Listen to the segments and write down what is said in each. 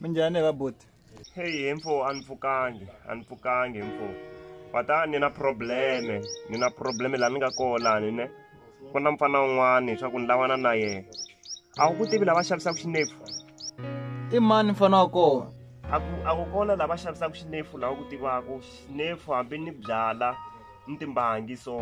minjhani va boti heyi he mfo a ni pfukangi a ni pfukangi mfo kwata ni na probleme ni na probleme laha ni nga kona ni ne ku na mfana un'wana swa ku ni lavana na yena a wu ku tivi lava xavisaka xinefu i mani mfana wa kona a ku a ku kona lava xavisaka xinefu laha u ku tivaka xinefu hambi ni byala ni timbangi so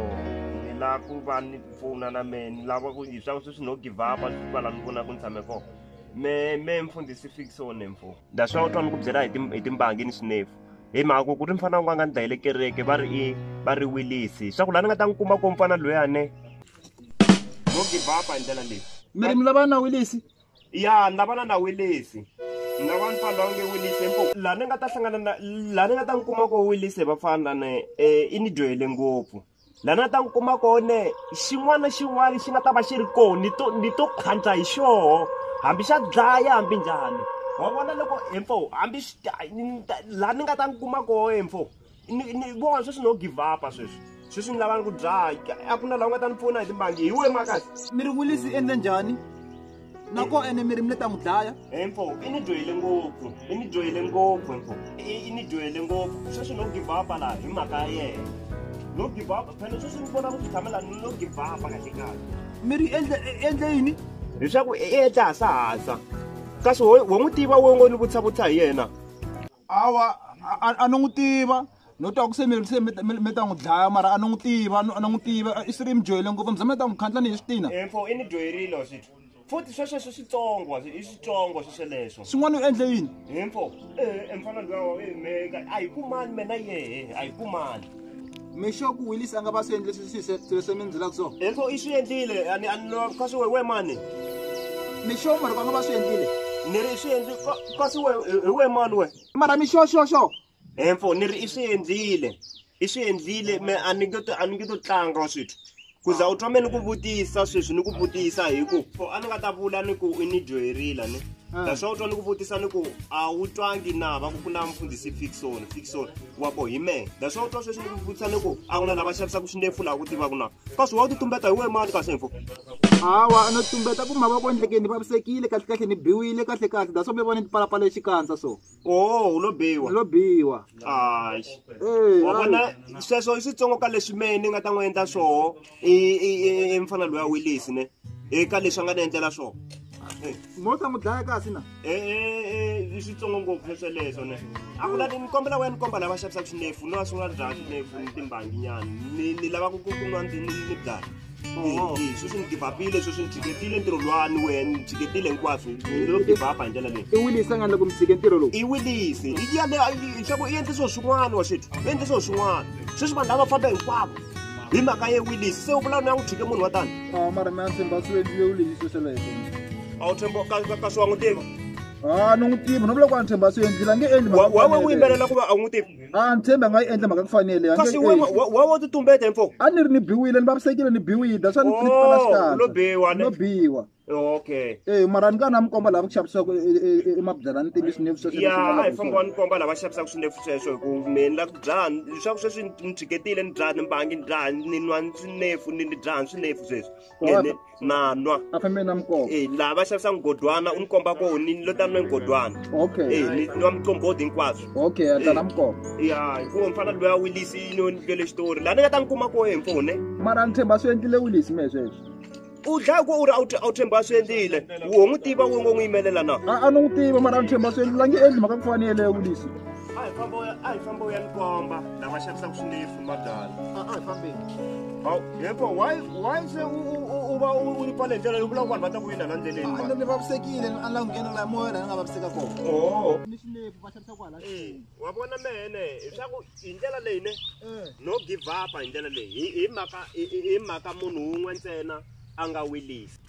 ni lava ku va ni pfuna na mehe ni lava ku hi swa ku sweswi no give up a swi va laha ni vonaka ni tshame kona me me mfundhisi fikise wo nemfo ndaswa u twa ni ku byela hi timbangi ni swinefu hi mhaka ku ku ri mfana wun'we a nga ni dlayele kereke va ri i va ri wilisi swa ku laha ni nga ta n'wi kuma ko mfana loyane no give up hi ndlela leyi mi ri mi lavana na wilisi ya ni lavana na wilisi ni lava mfana lowa nge wilisi empo laha ni nga ta hlangana na laha ni nga ta n'wi kuma ko wilisi hi vafana lane um i ni dyohele ngopfu laha na ta n'wi kuma kone xin'wana na xin'wana xi nga ta va xi ri kona ni to ni to khandla hi xoho hambi xa dlaya hambi njhani wa vona loko hemfo hambi laha ni nga ta n'wi kuma koho hemfo ni vona sweswi no give upa sweswi sweswi ni lava ni ku dlaya a ku na laha u nga ta ni pfuna hi timbangi hi we makasi mi ri wilisi endla njhani nako ene mi ri mi le ta n'wi dlaya empho i ni dyohele ngopfu i ni dyohele ngopfu empho i ni dyohele ngopfu sweswi no give up laha hi mhaka ya yena no give up phela sweswi ni vona ku swi tshamela ni no give up kahle kahle mi ri endle endle yini leswaku i endla hasahasa kasi wo n'wi tiva wo ngo ni vutisa vutisa hi yena awa a ni n'wi tiva no twa ku se mi se mi ta n'wi dlaya mara a ni n'wi tiva a ni n'wi tiva i swi ri mi dyohele ngopfu mi za mi ta n'wi khandla ni hi swi tina info i ni dyoherile wa swithu futhi swesweswo switsongo i switsongo swesweleswo swin'wana u endle yini info e mfana luyawa meka a hi kumani mina yehe a hi kumani mixoku willis a nga va swi endle swilo swi mi ndzilaka so info i swi endlile kasi we we mani mixo mari va nga va swi endlile ni ri i swi endli kasi we hi we mani we mara mixo xo xo info ni ri i swi endlile i swi endlile me a ni nge to a ni nge to tlanga wa swithu ku za u twame ni ku vutisa sweswi ni ku vutisa hi ku for a ni nga ta vula ni ku i ni dyoherila ni ah. naswona u twa ni ku vutisa ni ku a wu twangi na va ku ku na mfundhisi fixon fixon wa ko hi mehe naswona u twa sweswi ni ku vutisa ni ku a ku na lava xavisaka swindefu laha ku tivaka na kasi wa u ti tumbeta hi wehe mani kasi info hawa no tumbeta ku mavoko endlekeni ni vavisekile kahlekahle ni biwile kahlekahle daswa mi vona ni tipalapala xikandza so oh u lo biwa lo biwa hayi eh, wa vona sweswo i switsongo ka leswi mehe ni nga ta n'wi endla swoho i mfana loyi a wilisi ne eka leswi a nga ni endlela swoho mo ta n'wi dlaya kasi na eh, eh, i switsongo ngopfu swesweleswo ne a ku lati ni kombela wena ni komba lava xavisaka swinefu ni va swi nga ri dlaya swinefu ni timbanginyana ni lava ku ku kunwa ni dlaya sweswi ni givapile sweswi ni tshiketile ntirho lwani wena ni tshiketile hinkwaswo lo givapa hi ndlela leyi i wilisa nga loko mi tshike ntirho lowu i wilise i yaleyo nxaku i endle swilo swin'wana wa xetu i endle swilo swin'wana sweswi vanhu lava famba hinkwavo hi mhaka ye wilise se u vula ni ya n'wi tshike munhu wa tani a mara mi ya tshemba swi endlile wilise sweleswo a wu tshemba ka swi wa n'wi tiva a ni n'wi tivi no vula ku a ni tshemba swi endlile a nge endli wawe u yimbelela ku va a n'wi tivi a ni tshembi a nga yi endla mhaka ku fanele a kasi nge- wena wa- wa wo titumbeta mfo a ni ri ni biwile ni vavisekile ni biwile that's why ni ni pfala Oh, xikandza. lo biwa, ne? no biwa okay Eh mara ni ka na mi komba lava ku xavisaka emabyalani ntimbisi ni vuxoxo ya a hi famba ni komba lava xavisaka swinefu sweswo hi ku me ni la ku dzaha leswaku sweswi ni tshiketile ni dzaha ni mbangi ni dzaha ni nwa swinefu ni ni dzaha swinefu sweswi ene nanwa e laha va xavisa mugodwana u ni komba ko ni lo ta nwe mugodwana e ni nwa mucombodi hinkwaswo e, ya hikuva mfana loyi a wilisi yino ni lwele xitori laha ni nga ta ni kuma ko empfone mara ni tshemba swi endlile wilisi me sweswo u dlaya ku u ri a wu tshemba a swi endlile wo n'wi tiva wo ngo n'wi yimelela na a ni n'wi tiva mara a ni tshemba a swi endlile a nge endli mhaka ku fanele ya wulisi a hi famba u ya ni komba lava xavisaka swinefu madala Hawu, yepho why why se u- u- u- uba u- uri pale ndlela yoku lava ku vanhu va ta ku yinda la ndleleni mani ni vavisekile ni ala nghena la moya la ni nga vaviseka kona oho ni xinepu va xavisa kwala Eh, wa vona mene leswaku hi ndlela leyi ne no give up hi ndlela leyi hi hi mhaka hi- hi hi mhaka munhu wun'we ntsena a nga wilisi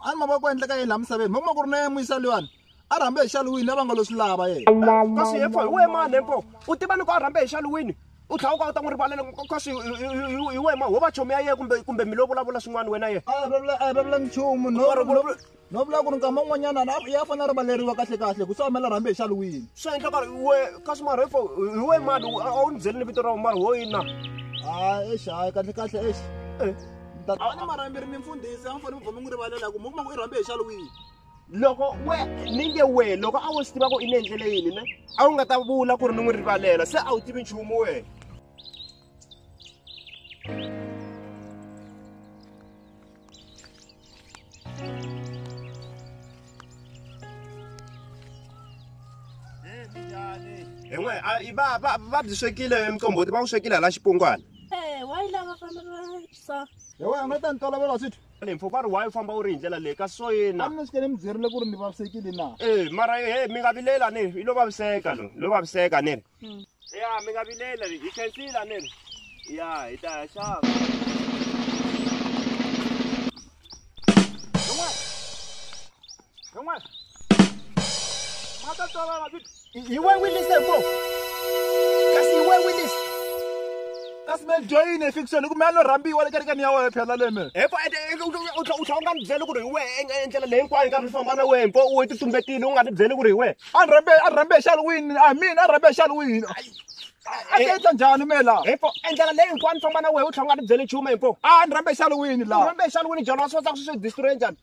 a ni mavoko endleka yini laha misaveni mi kuma ku ri na yena muyisa luyani a rhambe hi xaluwini a va nga lo swi lava yena kasi yefo hi wehe mani hempo u tiva loko a rhambe hi xaluwini u tlhela u ka u ta n'wi rivalela kasi hi wehe ma ho va chomi ya yena kumbe kumbe mi lo vulavula swin'wana wena yena a vulavula a vulavula nchumu no no vula ku ri nkama un'wanyana ya fanele a rivaleriwa kahle kahle ku sawumela rhambe hi xaluwini swi endla ka we kasi mara hifo hi wehe mani a wu ni byeli ni vito ra mara ho yini na a exi hayi kahle kahle exi a ni marhambi ri ni mfundhisi a mi fanele mi vhoma n'wi rivalela ku mi kuma ku i rhambe hi xalo wihi loko we ni nge we loko a wo swi tiva ku i ni endlele yini ne a wu nga ta vula ku ri ni n'wi rivalela se a wu tivi nchumu wena hin'we va va va byi swekile mqomboti va wu swekile hala xipungwana Eh, wa yi lava fana sa he wena nga ta ni tolovela swithu mpfhu va ri wa yi famba u ri hi ndlela leyi kasi so yena a mi sukele mi byerile ku ri ni vavisekile na e mara he mi nga vilela ni ri i lo vaviseka lo lo vaviseka ni ri hmm. ya mi nga vilela hi khensile ni ri ya hi ta ya xava Yon'wana. Ma ta tswala mavito. Hi we Willis ebo. Kasi hi we Willis. Kasi me join e fiction ku me a lo rambiwa le kerekeni ya wena phela leme. Epo u tlha u tlha u nga ni byeli ku ri hi we endlela leyi hinkwayo ka mi famba na we mpo u ti tumbetile u nga ni byeli ku ri hi we. A ni rambe a ni rambe xal wini. A mina a rambe xal wini. A ta endla njhani me la? Epo endlela leyi hinkwayo ni famba na we u tlha u nga ni byeli nchumu mpo. A ni rambe xal wini la? U rambe xal wini jalo wa swi kota ku swi destroy njhani?